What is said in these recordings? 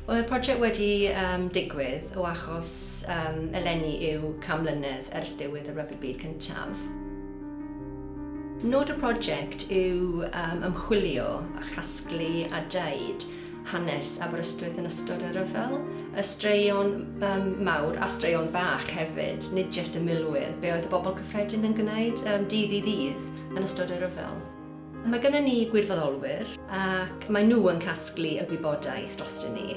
Wel, mae'r prosiect wedi um, digwydd o achos um, eleni yw cam mlynedd ers diwedd y Rhyfel Byd Cyntaf. Nod y prosiect yw um, ymchwilio a chasglu a daid hanes Aberystwyth yn ystod y rhyfel, y straeon um, mawr a straeon fach hefyd, nid jyst y milwyr, be oedd y bobl cyffredin yn gwneud um, dydd i ddydd yn ystod y rhyfel. Mae gennym ni gwirfoddolwyr ac maen nhw yn casglu y gwybodaeth drostyn ni.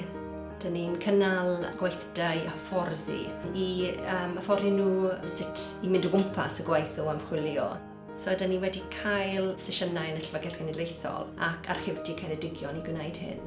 Dyn ni'n cynnal gweithdai hyfforddi i um, hyfforddi nhw sut i mynd o gwmpas y gwaith o amchwilio. So, dyn ni wedi cael sesiynau yn y Llyfrgell Genedlaethol ac Archifdy Ceredigion i gwneud hyn.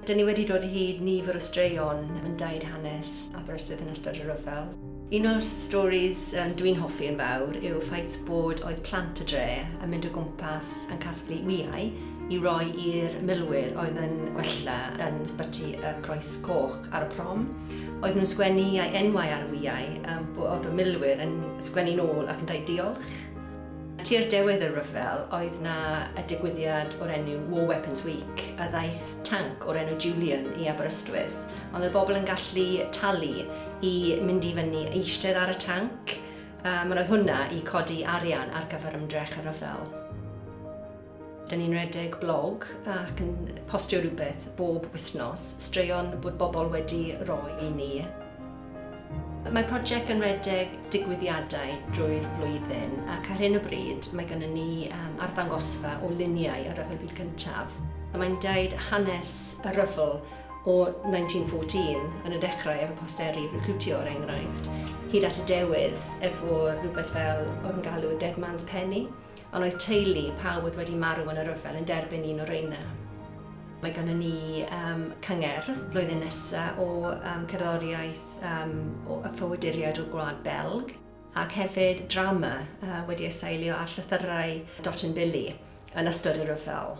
Dyn ni wedi dod hyd nifer o straeon yn daid hanes Aberystwyth yn ystod y rhyfel. Un o'r stories um, dwi'n hoffi yn fawr yw ffaith bod oedd plant y dre yn mynd o gwmpas yn casglu wyau i roi i'r milwyr oedd yn gwella yn ysbyty y Croes Coch ar y prom. Oedd nhw'n sgwennu iau enwau ar y wyau, um, oedd y milwyr yn sgwennu'n ôl ac yn dweud diolch. Tua'r dewedd y rhyfel oedd 'na y digwyddiad o'r enw War Weapons Week a ddaeth tanc o'r enw Julian i Aberystwyth ond oedd bobl yn gallu talu i mynd i fyny eistedd ar y tanc um, ond oedd hwnna i codi arian ar gyfer ymdrech y rhyfel. Dyn ni'n rhedeg blog ac yn postio rhywbeth bob wythnos, straeon bod bobl wedi rhoi i ni. Mae prosiect yn rhedeg digwyddiadau drwy'r flwyddyn ac ar hyn o bryd mae gennym ni um, arddangosfa o luniau ar Ryfel Byd Cyntaf. Mae'n deud hanes y rhyfel o 1914 yn y dechrau efo posteri recrwtio o'r er enghraifft, hyd at y dewydd efo rhywbeth fel oedd yn galw Dead Man's Penny, Ond oedd teulu pawb oedd wedi marw yn y rhyfel yn derbyn un o reina. Mae gennym ni um, cyngerdd blwyddyn nesaf o um, cerddoriaeth um, o y ffywyduriaid o'r gwlad Belg ac hefyd drama uh, wedi ei seilio ar llythyrau Dot and Billy yn ystod y rhyfel.